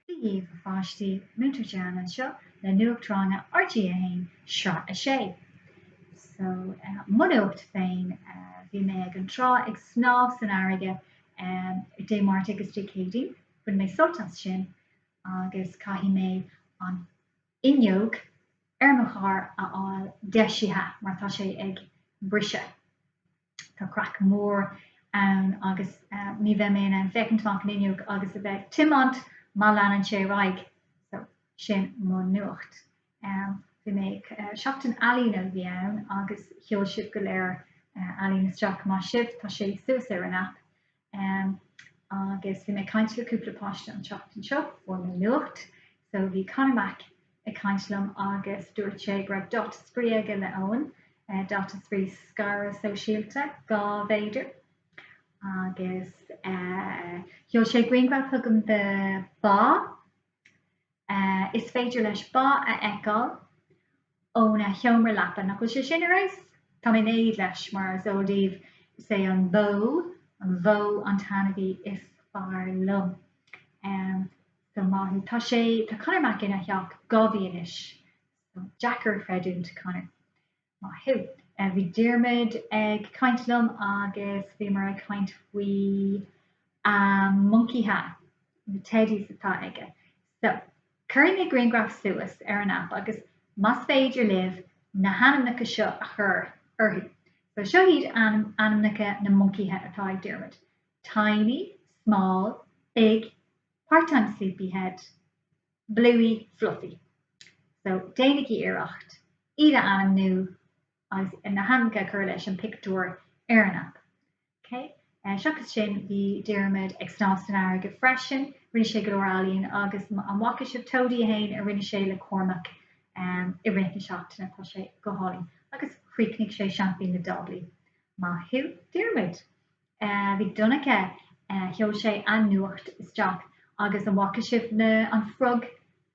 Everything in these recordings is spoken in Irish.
Dia daoibh a pháistí, Múinteoir Gianna anseo le Nuacht Ranga RG1, Sraith a 6. So, mo nuacht féin, bhí mé ag an trá ag snámh san fharraige Dé Máirt agus Dé Céadaoin, bhain mé sult as sin agus caithfidh mé an fhuinneog ar mo charr a fháil deisithe mar tá sé ag briseadh. Tá craic mhór ann agus ní bheidh mé in ann féachaint amach an fhuinneog agus a bheith ag tiomáint má leanann sé ar aghaidh. So, sin mo nuacht. Bhí mé, seachtain ealaíne a bhí ann agus sheol sibh go léir ealaín isteach. Maith sibh, tá sé suas ar an aip. Umm agus bhí mé ag caint le cúpla páiste an tseachtain seo, fuair mé nuacht, so bhí Conor Mac ag caint liom agus dúirt sé go raibh dáta spraoi aige le Eoin, dáta spraoi scaradh sóisialta dhá mhéadar, agus eh sheol sé grianghraf chugam de ba Is féidir leis ba a fheiceáil óna sheomra leapa. Nach bhfuil sé sin ar fheabhas? Tá mé in éad leis, mar is eol daoibh, is é an bhó, an bhó, an t-ainmhí is fearr liom. So maith thú. Tá sé, tá Conor Mac ina theach dhá mhí anois. So deacair a chreidiúint, Conor. Maith thú. Bhí Diarmaid ag caint liom agus bhíomar ag caint faoina mhoncaithe, na teddys atá aige. So cuirfidh mé grianghraf suas ar an aip agus más féidir libh na hainmneacha seo a chur orthu. So seo iad ainmneacha na moncaithe atá ag Diarmaid, Tiny, Small, Big, Part-Time Sleepyhead, Bluey Fluffy. So, déanaigí iarracht iad a ainmniú agus na hainmneacha a chur leis an bpictiúr ar an aip. Ok. Seachas sin, bhí Diarmuid ag snámh san fharraige freisin. Rinne sé go leor ealaíon agus an bhfaca sibh Toady 1 a rinne sé le Cormac i rith na seachtaine? Tá sé go hálainn. Agus chríochnaigh sé seaimpín na dtáblaí. Maith thú, Diarmuid! bhí Donncha, sheol sé an nuacht isteach agus an bhfaca sibh an frog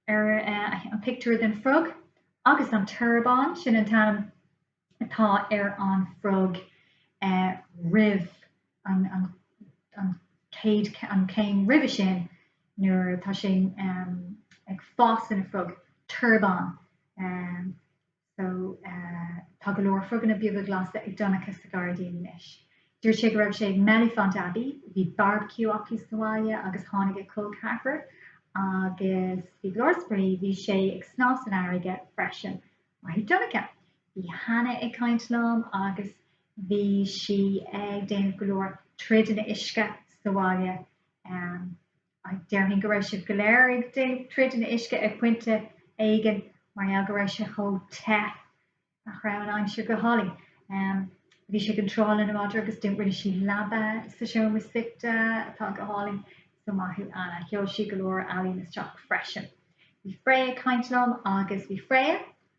ar, an pictiúr den frog agus an torbán, sin an t-ainm atá ar an frog roimh, an chéim roimhe sin nuair atá sé ag fás ina frog, torbán. so tá go leor froganna beaga glasa ag Donncha sa gairdín anois. Dúirt sé go raibh sé ag Mellifont Abbey, bhí barbecue acu sa bhaile agus tháinig a col ceathrair agus bhí go leor spraoi, bhí sé ag snámh san fharraige freisin, maith thú Donncha. Bhí Hannah ag caint liom agus bhí sí ag déanamh go leor troideanna uisce sa bhaile. Déarfainn go raibh sibh go léir ag déanamh troid na h-uisce ag pointe éigin mar gheall go raibh sé chomh te nach raibh an aimsir go hálainn. Bhí sí ag an trá lena madra agus do rinne sí leaba sa seomra suí atá go hálainn. So maith thú Anna. Sheol sí go leor ealaíne isteach freisin. Bhí Freya ag caint liom agus bhí Freya,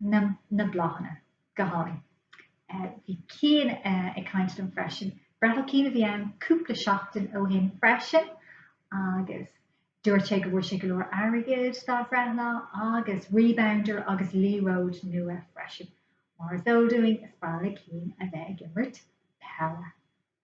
na na bláthanna, go hálainn. Bhí Cian ag caint liom freisin, breithlá Cian a bhí ann cúpla seachtain ó shin freisin agus dúirt sé go bhfuair sé go leor airgid dá bhreithlá agus Rebounder agus liathróid nua freisin. Mar is eol dúinn, is breá le Cian a bheith ag imirt peile.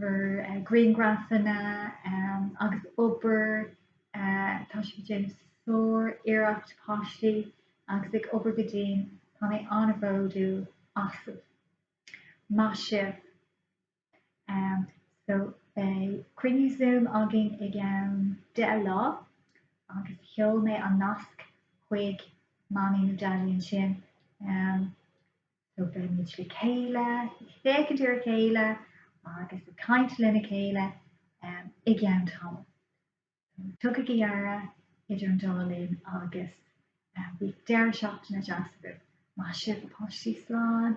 grianghrafanna agus obair. Tá sibh ag déanamh sár iarracht páistí agus ag obair go dian. Tá mé an-bhródúil asaibh. Maith sibh. So beidh cruinniú Zoom againn ag a deich a chlog agus sheol mé an nasc chuig mamaí nó daidí ansin. So beimid le chéile, ag féachaint ar a chéile agus ag caint lena chéile i gceann tamaill. Tugaigí aire idir an dá linn agus bíodh deireadh seachtaine deas agaibh. Maith sibh a pháistí, slán!